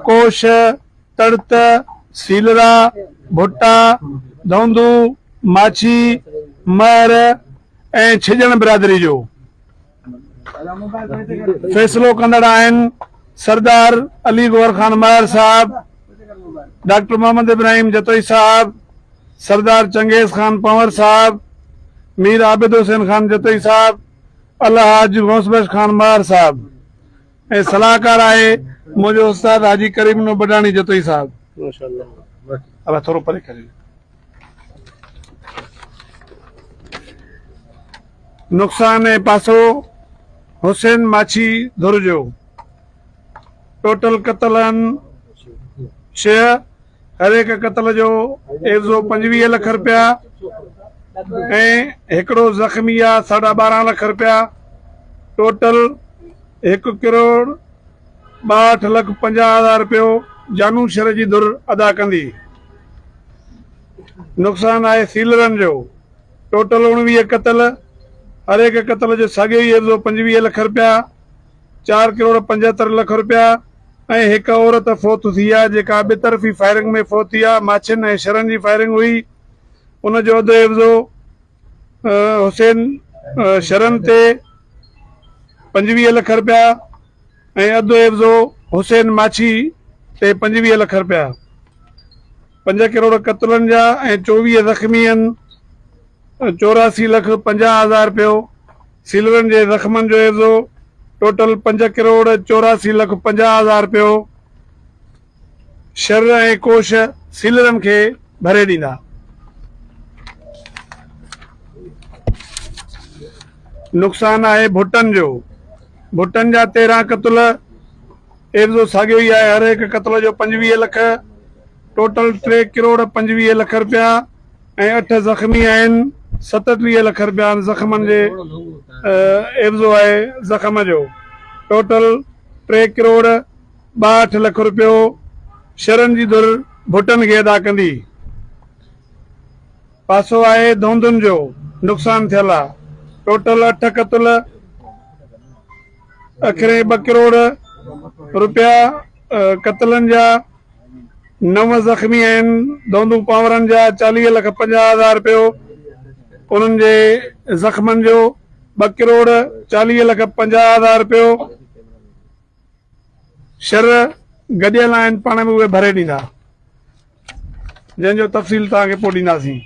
ڪوش، تڙت، سيلرا، ڀٽا، ڌونڌو، ماڇي، مهر ۽ ڇڄڻ برادري جو فيصلو ڪندڙ آهن سردار علي گوهر خان مهر صاحب، ڊاڪٽر محمد ابراهيم جتوئي صاحب، سردار چنگيز خان پنور صاحب، مير عابد حسين خان جتوئي صاحب، الحاج غوث بخش خان مهر صاحب. ۽ صلاحڪار آهي منهنجو استاد حاجي ڪريم نو بڊاڻي جتوئي صاحب. ماشاءالله ٿورو پري ڪريو. نقصان ۽ پاسو حسين ماڇي ڌر جو ٽوٽل قتل آهن ڇهه. هر هڪ قتل جو عيوضو پنجويهه لک رپيا ۽ هڪڙو زخمي جا ساڍا ٻارهن لک رپيا ٽوٽل هڪ ڪروڙ ٻاهٺ لک پنجاهه هزار رپيو جانو شھر جي ڌر ادا ڪندي. نقصان آهي سيلرن جو ٽوٽل اوڻويهه قتل هر هڪ قتل جو ساڳيو ئي عيوضو پنجويهه لک رپيا. چار ڪروڙ پنجهتر لک رپيا ۽ هڪ عورت فوت ٿي آهي جيڪا ٻه طرفي فائرنگ ۾ فوت ٿي آهي ماڇين ۽ شرن جي فائرنگ هئي ان جو اڌ عيوضو حسين شرن تي پنجويهه لک رپيا ۽ اڌ عيوضو حسين ماڇي تي پنجويهه لک رپيا پنج ڪروڙ قتلن جا ۽ چوويهه زخمي آهن چوراسی لک پنجاهه هزار رپيو سيلرن جي زخمن جو عيوضو ٽوٽل پنج ڪروڙ چوراسي لک پنجاهه هزار رپيو شر ۽ ڪوش سيلرن کي ڀري ڏيندا. نقصان آهي ڀٽن جو، ڀٽن جا تيرهن قتل، عيوضو ساڳيو ئي آهي هر هڪ قتل جو پنجويهه لک، ٽوٽل ٽي ڪروڙ پنجويهه لک رپيا. ۽ اٺ زخمي آهن، ستٽيهه لک رپيان زخمن جي عيوضو آهي، زخم جو ٽوٽل ٽي ڪروڙ ٻاهٺ لک رپيو شھرن جي ڌر ڀٽن کي ادا ڪندي، پاسو آهي ڌونڌن جو نقصان ٿيل آ، ٽوٽل اٺ ڪتل اکرين ٻه ڪروڙ رپيا قتلن جا، نو زخمي آهن، دوندون پانورن جا چاليهه لک پنجاهه هزار رپيو، انهن جي زخمن جو ٻه ڪروڙ چاليهه لک پنجاهه هزار رپيو، شر گڏيل آهن پاڻ ۾ اهي ڀري ڏيندا، جنهن جو تفصيل توهان کي پوء ڏينداسين.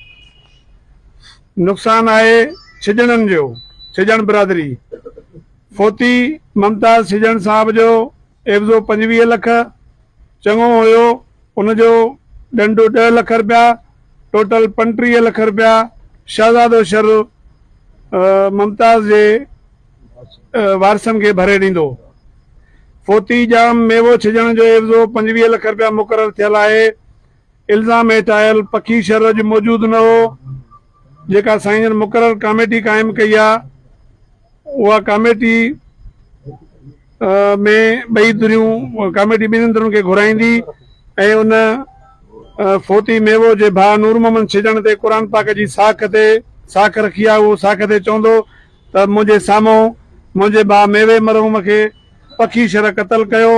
نقصان آهي ڇڄڻن جو، ڇڄڻ برادري، فوتي ممتاز ڇڄڻ صاحب جو، عيوضو پنجويهه لک چڱو هيو، ان جو ڏنڊ ڏهه لک رپيا، ٽوٽل پنٽيهه لک رپيا شهزادو شر ممتاز جي وارثن کي ڀري ڏيندو. فوتي ڄام ميوو ڇڄڻ جو عيوضو پنجويهه لک رپيا مقرر ٿيل آهي. الزام هيٺ آيل پکي شر اڄ موجود نه هو، جيڪا سائين جن مقرر ڪاميٽي قائم ڪئي آ اها ڪاميٽي ۾ ٻئي ڌريون ڪاميٽي ٻنهن ڌرين کي گهرائيندي ۽ ان فوتي ميوو جي ڀاء نور محمد ڇڄڻ تي قرآن پاڪ جي ساک تي ساک رکي آ اهو ساک تي چوندو ته منهنجي سامهون منهنجي ڀاء ميوي مرحوم کي پکي شرح قتل ڪيو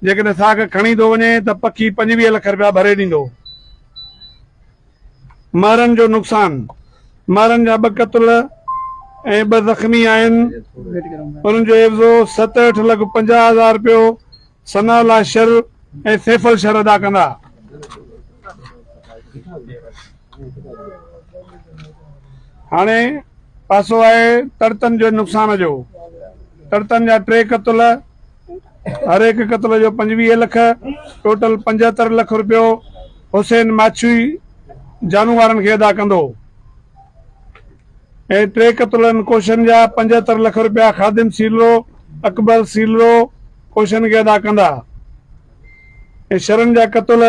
جيڪڏهن ساک کڻي ٿو وڃي ته پکي پنجويهه لک رپيا ڀري ڏيندو. مارن جو نقصان، مارن جا ٻه قتل ۽ ٻه زخمي آهن، انهن جو عيوضو ستهٺ لک پنجاهه هزار رپيو ثناء الله شر ۽ سيفل شر ادا ڪندا. هاڻي پاسو آهي تڙتن جي نقصان جو، تڙتن جا ٽي قتل، هر هڪ قتل جو پنجويهه لک، ٽوٽل پنجهتر لک روپيو حسين ماڇي جانو وارن کي ادا ڪندو ۽ ٽي قتلن ڪوشن جا پنجهتر لک روپيا خادم سيلرو، اڪبر سيلرو ڪوشن کي ادا ڪندا ۽ شرن جا قتل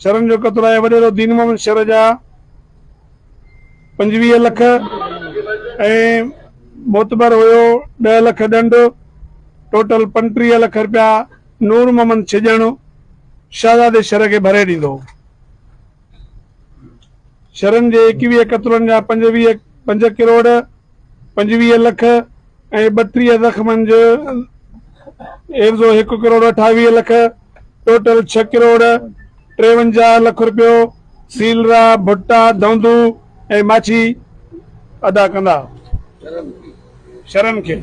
شرن جو قتل آهي وڏيرو دين محمد شر جا. پنجويهه لک ۽ معتبر هيو ڏهه لک ڏنڊ ٽوٽل پنٽيهه لک رپيا نور محمد ڇڄاڻو شهزادي شھر کي ڀري ڏيندو هو. شھرن جي ايڪويهه قطرن جا پنجويهه پنج ڪروڙ، پنجويهه لک ۽ ٻٽيهه زخمن جو عيوضو هڪ ڪروڙ اٺاويهه لک ٽوٽل ڇهه ڪروڙ ٽيونجاهه لک رپيو سيلرا، ڀٽا، دهندو ۽ ماڇي ادا ڪندا. شھرن کي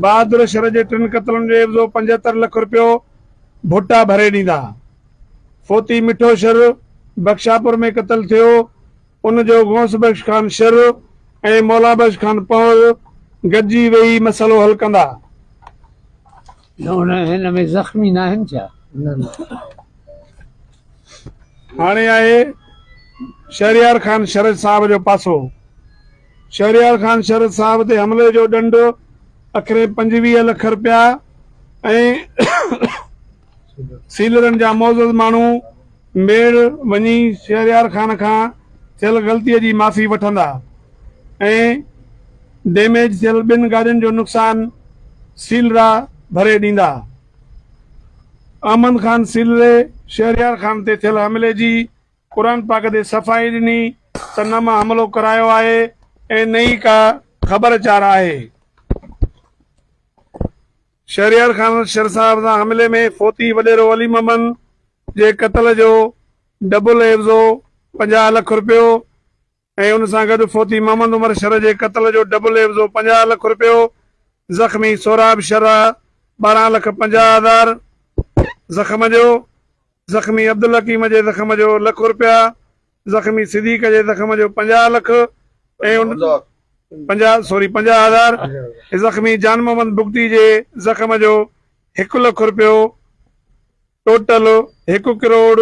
بهادر شھر جي ٽن قتلن جو عيوضو پنجهتر لک رپيو ڀٽا ڀري ڏيندا. فوتي مٺو شر بخشاپور ۾ قتل ٿيو، ان جو غوث بخش خان شر ۽ مولا بخش خان پنهور گڏجي ويهي مسئلو حل ڪندا. هن ۾ زخمي ناهن ڇا؟ نه نه. هاڻي آهي شهريار خان شر صاحب جو پاسو. شهريار خان شر صاحب تي حملي جو ڏنڊ اکرين پنجويهه لک رپيا ۽. سيلرن جا معزز ماڻهو ميڙ وڃي شهريار خان کان ٿيل غلطيء جي معافي وٺندا ۽ ڊيميج ٿيل ٻن گاڏين جو نقصان سيلرا ڀري ڏيندا. احمد خان سيلري شهريار خان تي ٿيل حملي جي قرآن پاڪ تي صفائي ڏني ته نه مان حملو ڪرايو آهي ۽ نه ئي ڪا خبر چار آهي. شهريار خان شر صاحب سان حملي ۾ فوتي وڏيرو علي محمد جي قتل جو ڊبل عيوضو پنجاهه لک رپيو ۽ ان سان گڏ فوتي محمد عمر شر جي قتل جو ڊبل عيوضو پنجاهه لک رپيو، زخمي سهراب شر ٻارهن لک پنجاهه هزار زخم جو، زخمي عبدالحڪيم جي زخم جو لک رپيا، زخمي صديق جي زخم جو پنجاهه لک ۽ پنجاهه سوري پنجاهه هزار ۽ زخمي جان محمد بگٽي جي زخم جو هڪ لک رپيو ٽوٽل هڪ ڪروڙ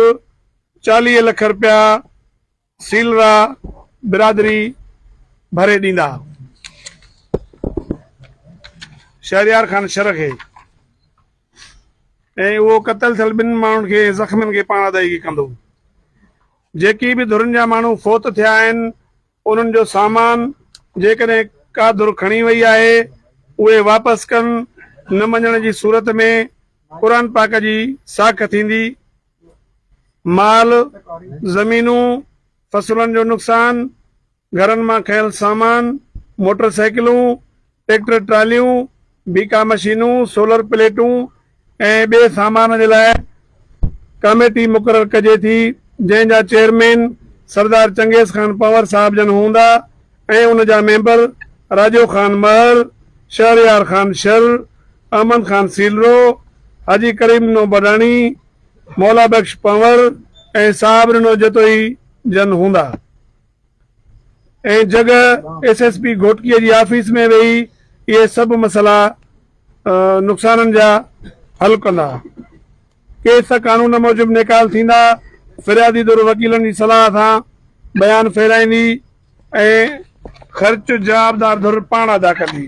چاليهه لک رپيا سيلرا برادري ڀري ڏيندا شهريار خان شرخي ۽ اهو قتل ٿيل ٻن ماڻهن کي ۽ زخمين کي پاڻ ادائيگي ڪندو. جيڪي به ڌرين جا ماڻهو فوت ٿيا آهن انهن جو سامان جيڪڏهن ڪا ڌر کڻي وئي آهي اهي واپس ڪن نه مڃڻ جي صورت ۾ قرآن پاڪ جي ساک ٿيندي مال، زمينون، فصلن جو نقصان، گهرن مان کنيل سامان، موٽر سائيڪلون، ٽريڪٽر ٽراليون، بيڪا مشينون، سولر پليٽون ۽ ٻئي سامان جي لاء ڪاميٽي مقرر ڪجي ٿي جنهن جا چيئرمين سردار چنگيز خان پنور صاحب جن هوندا ۽ ان جا ميمبر راڄو خان مهر، شهريار خان شر، احمد خان سيلرو، حاجي ڪريم نو بڊاڻي، مولا بخش پنور ۽ صاحب ننو جتوئي جن هوندا. ۽ جڳهه ايس ايس پي گهوٽڪي جي آفيس ۾ ويهي اهي سڀ مسئلا نقصانن جا حل ڪندا. ڪيس قانون موجب نيڪال ٿيندا، فريادي ڌر وڪيلن جي صلاح سان بيان ڦيرائيندي ۽ خرچ جوابدار ڌر پاڻ ادا ڪندي.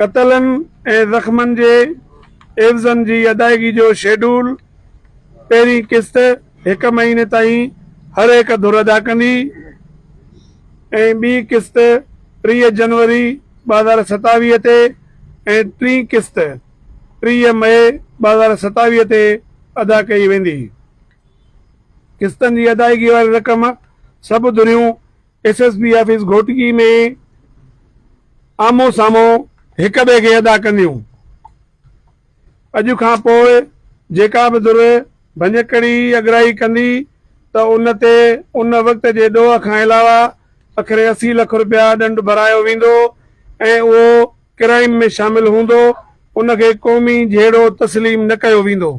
قتلن ۽ زخمن جي عيوضن جي ادائيگي جو شيڊول، پهرين قسط هڪ مهيني تائين هر هڪ ڌر ادا ڪندي ۽ ٻي قسط ٽيهه جنوري ٻه هزار ستاويهه تي ۽ ٽين قسط ٽيهه مئي ٻه هزار ستاويهه تي ادا ڪئي ويندي. قسطن جي ادائيگي واري رقم سڀ ڌريون S S P office Ghotki ۾ آمهون سامهون هڪ ٻئي کي ادا ڪنديون. اڄ کان پوء جيڪا به ڌر ڀڃڪڙي اڳرائي ڪندي ته ان تي ان وقت جي ڏوهه کان علاوه اکري اسي لک رپيا ڏنڊ ڀرايو ويندو ۽ اهو ڪرائيم ۾ شامل هوندو ان کي قومي جهيڙو تسليم نه ڪيو ويندو.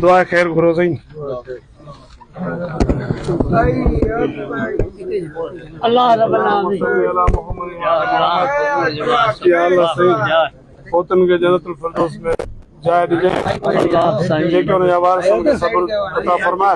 دعا خير گهرو سائين. الله رب العالمين فوتن کي جنت الفردوس ۾ جاء ڏجي جيڪي انهن جا وارث آهن انهن کي صبر عطا فرماء